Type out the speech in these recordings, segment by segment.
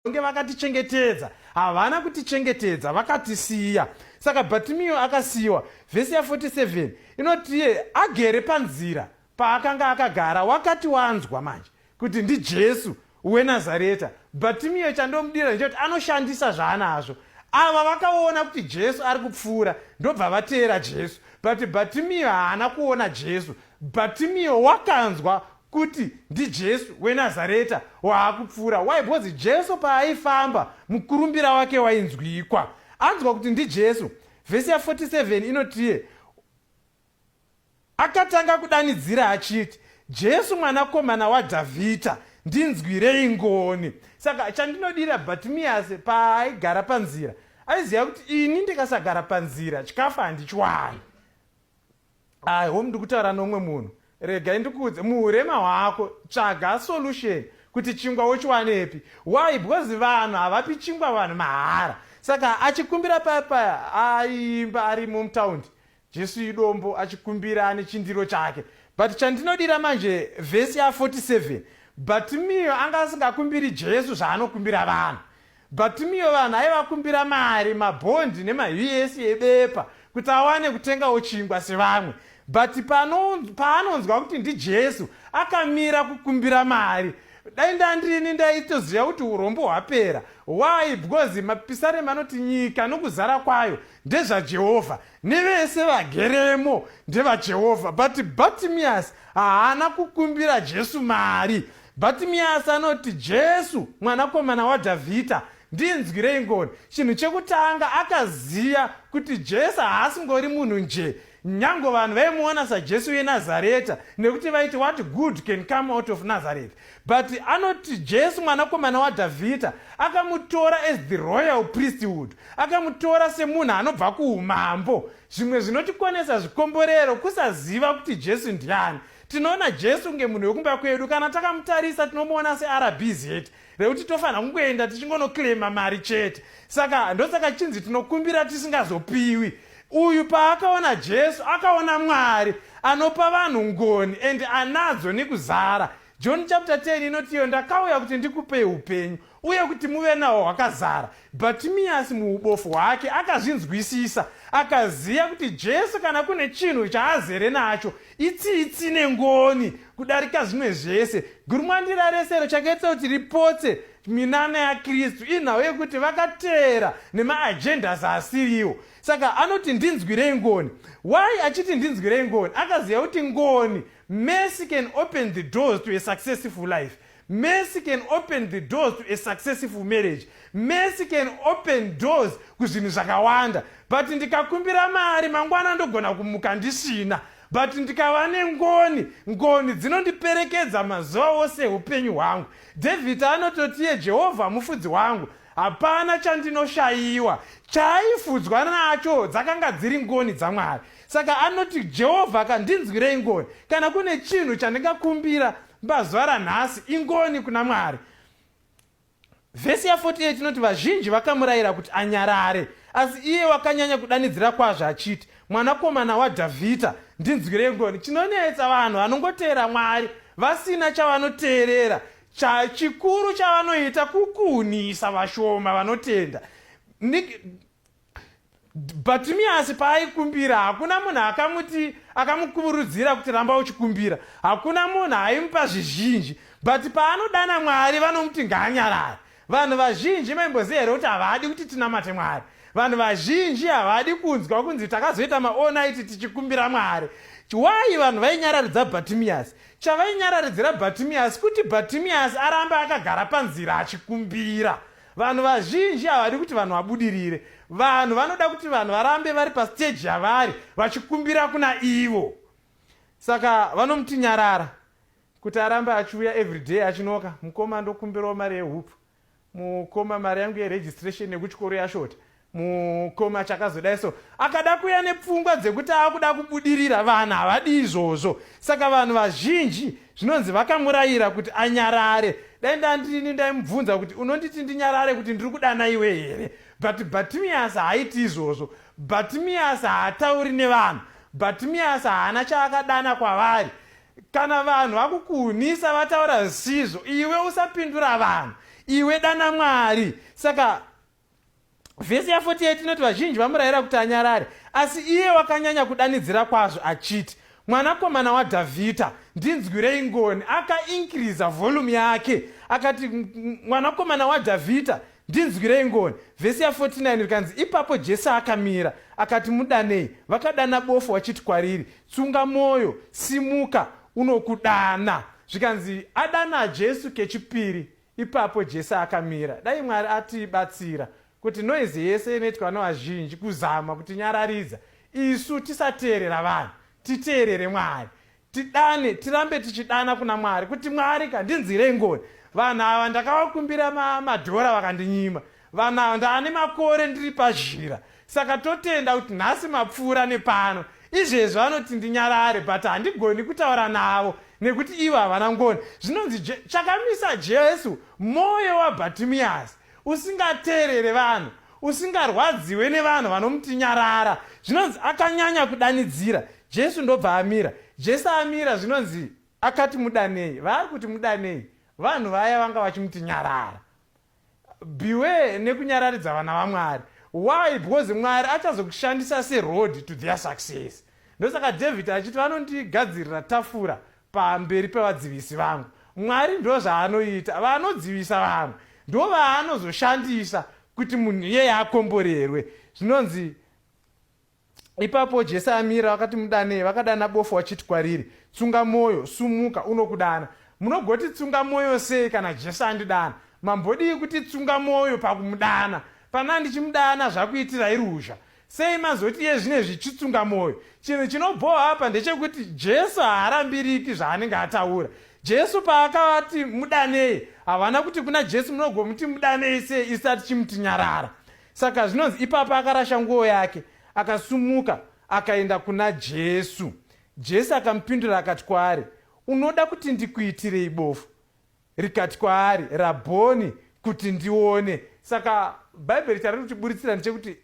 kunge vakatichengetedza havana kutichengetedza vakatisiya saka bhatimiyo akasiyiwa vhesi ya 47 inotiye agere panzira paakanga akagara wakati wanzwa manje kuti ndijesu wenazareta bhatimiyo chandomudira ndechekuti anoshandisa zvaanazvo ava vakaona kuti jesu ari kupfuura ndobva vateera jesu but bhatimiyo haana kuona jesu bhatimiyo wakanzwa kuti ndiJesu weNazareta waakupfuura. Why? Because Jesu paaifamba mukurumbira wake wainzwikwa. Anzwa kuti ndiJesu. Vhesi ya 47 inotiye akatanga kudanidzira achiti, Jesu mwanakomana waDhavhidha, ndinzwirei ngoni. Saka chandinodira Bhatimiyasi paaigara panzira, aiziva kuti ini ndikasagara panzira chikafu handichiwani. I hope ndikutaura nomwe munhu regai ndikuudze muurema hwako tsvaga solution kuti chingwa wochiwanepi why because vanhu havapi chingwa vanhu mahara saka achikumbira paya paya aiimba ari mumtaundi jesu idombo achikumbira ane chindiro chake but chandinodira manje vhesi ya 47 but miyo anga asingakumbiri jesu zvaanokumbira vanhu Bhatimiyo vanhu aivakumbira mari, mabhondi nemahwiesi ebepa kuti awane kutengawo chingwa sevamwe. But pano, paanonzwa kuti ndiJesu, akamira kukumbira mari. Dai ndandini ndaitoziva kuti urombo hwapera. Why? Because mapisarema anoti nyika nokuzara kwayo ndezvaJehovha, nevese vageremo ndevaJehovha. But Bhatimiasi haana kukumbira Jesu mari. Bhatimiyasi anoti, Jesu, Mwanakomana waDhavhidha, ndinzwirei ngoni. Chinhu chekutanga, akaziva kuti Jesu haasingori munhu nje. Nyango vanhu vaimuona saJesu weNazareta nekuti vaiti what good can come out of Nazareth. But anoti Jesu mwanakomana waDhavhidha akamutora as the royal priesthood, akamutora semunhu anobva kuumambo. Zvimwe zvinotikonesa zvikomborero kusaziva kuti Jesu ndiani. Tinoona Jesu kunge munhu wekumba kwedu. Kana takamutarisa tinomuona seRBZ rekuti tofanira kungoenda tichingonoclaima mari chete. Saka ndosaka chinzi tinokumbira tisingazopiwi. Uyu paakaona Jesu akaona Mwari anopa vanhu ngoni and anadzo nekuzara. John chapter 10 inotiyo ndakauya kuti ndikupei upenyu uye kuti muve nawo hwakazara bhatimiyasi muubofu hwake akazvinzwisisa akaziva kuti jesu kana kune chinhu chaazere nacho itsitsi nengoni kudarika zvimwe zvese gurumwandira rese rochakaitisa kuti ripotse minana yakristu inhau yekuti vakateera nemaagendas asiriwo saka anoti ndinzwirei ngoni why achiti ndinzwirei ngoni akaziva kuti ngoni mercy can open the doors to a successful life Mercy can open the doors to a successful marriage. Mercy can open doors kuzvinhu zvakawanda. But ndikakumbira mari mangwana ndogona kumuka ndisina. But ndikava nengoni, ngoni dzinondiperekedza mazuva ose upenyu hwangu. David anototiye Jehovha mufudzi wangu. Hapana chandinoshayiwa. Chaaifudzwa nacho dzakanga dziri ngoni dzaMwari. Saka anoti Jehovha kandinzwirei ngoni kana kune chinhu chandingakumbira Pazuva ranhasi, ingoni kuna Mwari. Vhesi ya48 inoti vazhinji vakamurayira kuti anyarare, asi iye wakanyanya kudanidzira kwazvo achiti, Mwanakomana waDhavhidha, ndinzwirei ngoni. Chinonetsa vanhu vanongoteera Mwari vasina chavanoteerera chikuru chavanoita kukunhisa vashoma vanotenda. Bhatimiyasi paaikumbira, hakuna munhu akamuti akamukurudzira kuti ramba uchikumbira. Hakuna munhu aimupa zvizhinji. But paanodana Mwari vanomuti ngaanyarare. Vanhu vazhinji maimboziva here kuti havadi kuti tinamate Mwari? Vanhu vazhinji havadi kunzwa kunzi takazoita maonaiti tichikumbira Mwari. Why vanhu vainyararidza Bhatimiyasi? Chavainyararidzira Bhatimiyasi kuti Bhatimiyasi arambe akagara panzira achikumbira. Vanhu vazhinji havadi kuti vanhu vabudirire. Vanhu vanoda kuti vanhu varambe vari pastage yavari vachikumbira kuna ivo. Saka vanomuti nyarara kuti arambe achiuya everyday achinoka mukoma ndokumbirawo mari yehupfu mukoma mari yangu yeregistration yekuchikoro yashota mukoma chakazodai so akada kuya nepfungwa dzekuti akuda kubudirira vanhu havadi izvozvo saka vanhu vazhinji zvinonzi vakamurayira kuti anyarare dai ndandini ndaimubvunza kuti unonditi ndinyarare kuti ndiri kudana iwe here but batimias haaiti izvozvo batimias haatauri nevanhu batimias haana chaakadana kwavari kana vanhu vakukuhunisa vataura zvisizvo iwe usapindura vanhu iwe dana mwari saka Vhesi ya48 inoti vazhinji vamurayira kuti anyarare, asi iye wakanyanya kudanidzira kwazvo achiti, Mwanakomana waDhavhidha, ndinzwirei ngoni. Akainkiriza vholumu yake akati, Mwanakomana waDhavhidha, ndinzwirei ngoni. Vhesi ya49 rikanzi, Ipapo Jesu akamira, akati, Mudanei. Vakadana bofu wachiti kwariri, Tsunga mwoyo, simuka, unokudana. Zvikanzi, Adana Jesu kechipiri. Ipapo Jesse akamira. Dai Mwari atibatsira kuti noise yese inoitwa nevazhinji kuzama kutinyararidza isu tisateerera vanhu titeerere Mwari tidane tirambe tichidana kuna Mwari kuti Mwari ka ndinzwirei ngoni vanhu ava ndakavakumbira madhora vakandinyima Vana ndane makore ndiri pazhira saka totenda kuti nhasi mapfuura nepano. Izvezvi vanoti ndinyarare but handigoni kutaura navo nekuti ivo havana ngoni. Zvinonzi je, chakamisa Jesu moyo waBhatimiyasi usingateerere vanhu usingarwadziwe nevanhu vanomuti nyarara. Zvinonzi akanyanya kudanidzira Jesu ndobva amira. Jesu amira zvinonzi akati mudanei. Vaari kuti mudanei vanhu vaya vanga vachimuti nyarara. beware nekunyararidza vana vamwari why because mwari achazokushandisa seroad to their success ndosaka david achiti vanondigadzirira tafura pamberi pevadzivisi vangu mwari ndo zvaanoita vanodzivisa vamwe ndo vaanozoshandisa kuti munhu iyeye akomborerwe zvinonzi Ipapo Jese amira, vakati mudanei, vakadana bofu vachiti kwariri, Tsunga mwoyo, sumuka, unokudana. Munogoti tsunga mwoyo sei kana Jesu andidana? Mambodii kuti tsunga mwoyo pakumudana? Pana ndichimudana zvakuitirai ruzha. Sei mazoti iye zvine zvichitsunga mwoyo? Chinhu chinobhoha apa ndechekuti Jesu haarambiriki zvaanenge ataura. Jesu paakavati mudanei, havana kuti kuna Jesu munogomuti mudanei sei isati chimuti nyarara. Saka zvinonzi ipapa akarasha nguo yake, akasumuka, akaenda kuna Jesu. Jesu akamupindura akati kwaari, Unoda kuti ndikuitirei bofu? Rikati kwaari, Rabhoni, kuti ndione. Saka Bhaibheri chariri kutiburitsira ndechekuti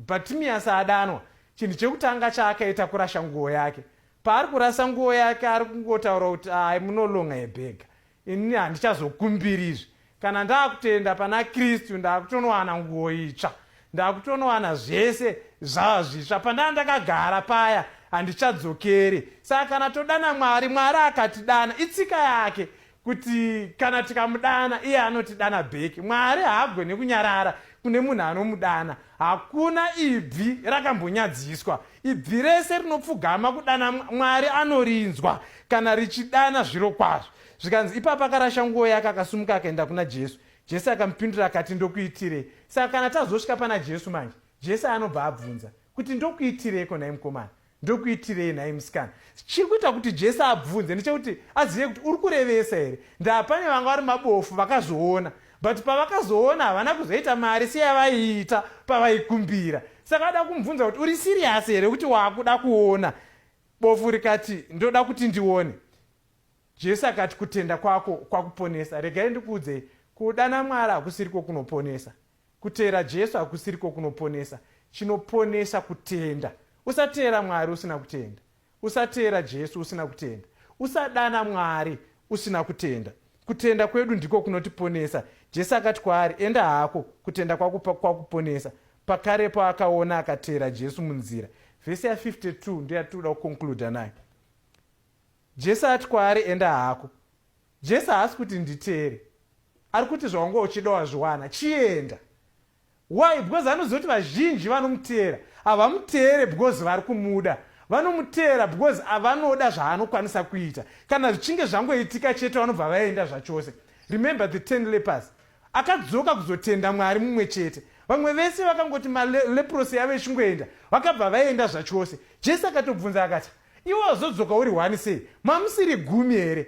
Bhatimiyasi adanwa, chinhu chekutanga chaakaita kurasha nguo yake. Paari kurasa nguo yake, ari kungotaura kuti, Ayi, munolonga yebhega. Ini handichazokumbiri izvi. Kana ndakutenda pana Kristu ndakutonowana nguwo itsva. Ndakutonowana zvese zvava zvitsva. Pandanga ndakagara paya handichadzokeri. Saka kana todana Mwari, Mwari akatidana. Itsika yake kuti kana tikamudana iye anotidana bheki. Mwari haagone kunyarara kune munhu anomudana. Hakuna ibvi rakambonyadziswa. Ibvi rese rinopfugama kudana Mwari anorinzwa kana richidana zviro kwazvo. Zvikanzi ipapo akarasha nguo yake akasumuka akaenda kuna Jesu. Jesu akamupindura akati ndokuitirei? Saka kana tazosvika pana Jesu manje, Jesu anobva abvunza kuti ndokuitireiko nhai mukomana? ndokuitirei nhai musikana chiri kuita kuti jesu abvunze ndechekuti azive kuti uri kurevesa here ndaa pane vanga vari mabofu vakazoona but pavakazoona havana kuzoita mari seyavaiita pavaikumbira saka ada kumubvunza kuti uri serious here kuti waakuda kuona bofu rikati ndoda kuti ndione jesu akati kutenda kwako kwakuponesa regai ndikuudzei kudana mwari hakusiriko kunoponesa kuteera jesu hakusiriko kunoponesa chinoponesa kutenda usateera mwari usina kutenda Usateera Jesu usina kutenda. Usadana Mwari usina kutenda. Kutenda kwedu ndiko kunotiponesa. Jesu akati kwaari, Enda hako, kutenda kwako kwakuponesa. Pakarepo akaona akateera Jesu munzira. Vhesi ya 52 ndoyatinoda kukonkluda nayo. Jesu ati kwaari, Enda hako. Jesu haasi kuti nditeere, ari kuti zvawanga uchida wazviwana, chienda. Why? Because anoziva kuti vazhinji vanomuteera havamuteere because vari kumuda. Vanomuteera because avanoda zvaanokwanisa kuita. Kana zvichinge zvangoitika chete vanobva vaenda zvachose. Remember the ten lepers. Akadzoka kuzotenda Mwari mumwe chete. Vamwe vese vakangoti maleprosi yavo ichingoenda vakabva vaenda zvachose. Jesu akatobvunza akati, iwe wazodzoka uri one sei? Mamusiri gumi here?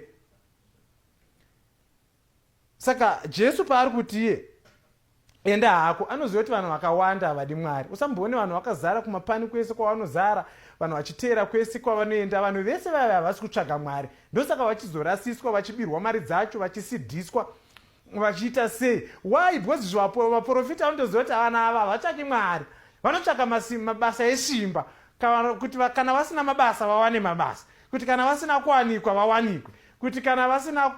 saka jesu paari kuti iye enda hako anoziva kuti vanhu vakawanda havadi mwari usamboone vanhu vakazara kumapani kwese kwavanozara vanhu vachiteera kwese kwavanoenda vanhu vese vaive havasi kutsvaga mwari ndosaka vachizorasiswa vachibirwa mari dzacho vachisidhiswa vachiita sei why because zvaporofita vanotoziva kuti vana ava havatsvaki mwari vanotsvaka mabasa esimba kuti kana vasina mabasa vawane mabasa kuti kana vasina kuwanikwa vawanikwe kuti kana vasina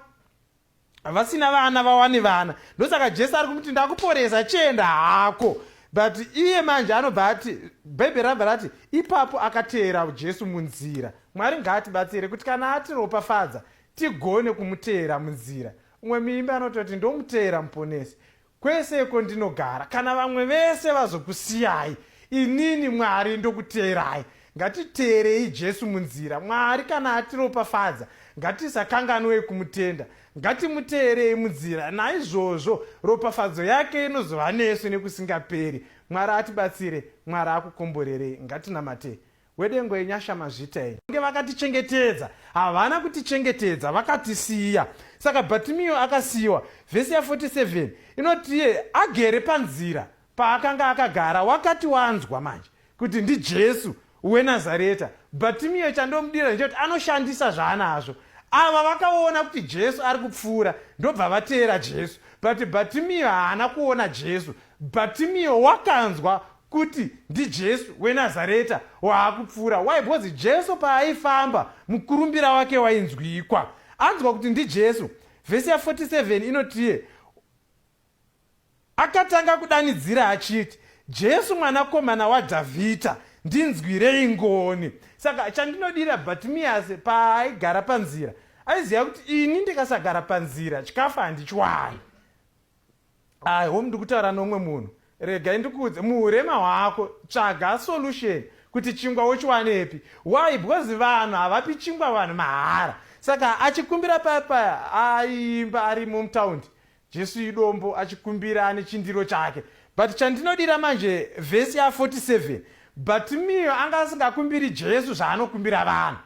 vasina vana vawane vana ndosaka jesu ari kumuti ndakuporesa chienda hako but iye manje anobva ati bhaibheri rabva rati ipapo akateera jesu munzira mwari ngaatibatsire kuti kana atiropafadza tigone kumuteera munzira umwe muimbi anototi ndomuteera muponesi Kwese kwondinogara, kana vamwe vese vazokusiyai, inini, Mwari, ndokuteerai. Ngatiteerei Jesu munzira. Mwari kana atiropafadza, ngatisakanganwei kumutenda. Ngatimuteerei munzira. Naizvozvo ropafadzo yake inozova nesu nekusingaperi. Mwari atibatsire. Mwari akukomborerei. Ngatinamatei. wedengo yenyasha mazvita enyu nge vakatichengetedza havana kutichengetedza vakatisiya saka bhatimiyo akasiyiwa vhesi ya 47 inotiye agere panzira paakanga akagara wakati wanzwa manje kuti ndijesu wenazareta bhatimiyo chandomudira ndechekuti anoshandisa zvaanazvo ava vakaona kuti jesu ari kupfuura ndobva vateera jesu but bhatimiyo haana kuona jesu bhatimiyo wakanzwa kuti ndiJesu weNazareta waakupfuura. Why? Because Jesu paaifamba mukurumbira wake wainzwikwa. Anzwa kuti ndiJesu. Vhesi ya 47 inotiye akatanga kudanidzira achiti jesu mwanakomana wadhavhidha ndinzwirei ngoni saka chandinodira bhatimiyasi paaigara panzira aiziva kuti ini ndikasagara panzira chikafu handichiwani i home ndikutaura nomwe munhu regai ndikuudze muurema hwako tsvaga solution kuti chingwa wochiwanepi why because vanhu havapi chingwa vanhu mahara saka achikumbira paya paya aiimba ari mumutaundi jesu idombo achikumbira ane chindiro chake but chandinodira manje vhesi ya 47 but miyo anga asingakumbiri jesu zvaanokumbira vanhu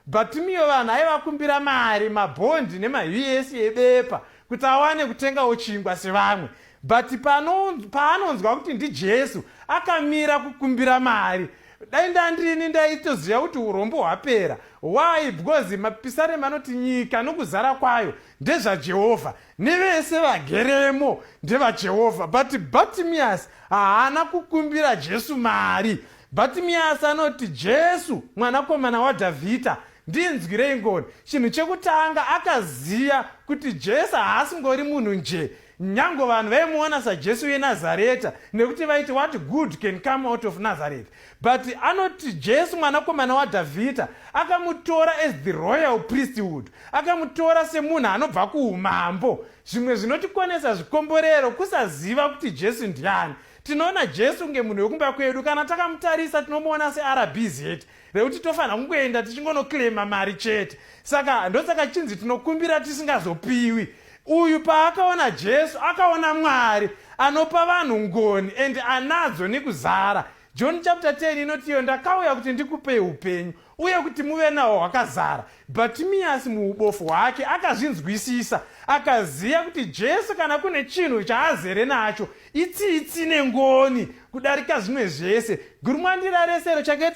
Bhatimio vanhu aivakumbira mari, mabhondi nemahwiesi ebepa kuti awane kutengawo chingwa sevamwe. But pano, paanonzwa kuti ndiJesu, akamira kukumbira mari. Dai ndandini ndaitoziva kuti urombo hwapera. Why? Because mapisarema anoti nyika nokuzara kwayo ndezvaJehovha, nevese vageremo ndevaJehovha. But Bhatimiasi haana kukumbira Jesu mari. Bhatimiyasi anoti, Jesu, Mwanakomana waDhavhidha, ndinzwirei ngoni. Chinhu chekutanga, akaziva kuti Jesu haasingori munhu nje. Nyange vanhu vaimuona saJesu weNazareta nekuti vaiti what good can come out of Nazareth. But anoti Jesu mwanakomana waDhavhidha akamutora as the royal priesthood, akamutora semunhu anobva kuumambo. Zvimwe zvinotikonesa zvikomborero kusaziva kuti Jesu ndiani. Tinoona Jesu kunge munhu wekumba kwedu. Kana takamutarisa tinomuona seRBZ rekuti tofanira kungoenda tichingonoclaima mari chete. Saka ndosaka chinzi tinokumbira tisingazopiwi. Uyu paakaona Jesu akaona Mwari anopa vanhu ngoni and anadzo nekuzara. John chapter 10 inoti iyo ndakauya kuti ndikupei upenyu uye kuti muve nawo hwakazara bhatimiyasi muubofu hwake akazvinzwisisa akaziva kuti jesu kana kune chinhu chaazere nacho itsitsi nengoni kudarika zvimwe zvese gurumwandira resero chake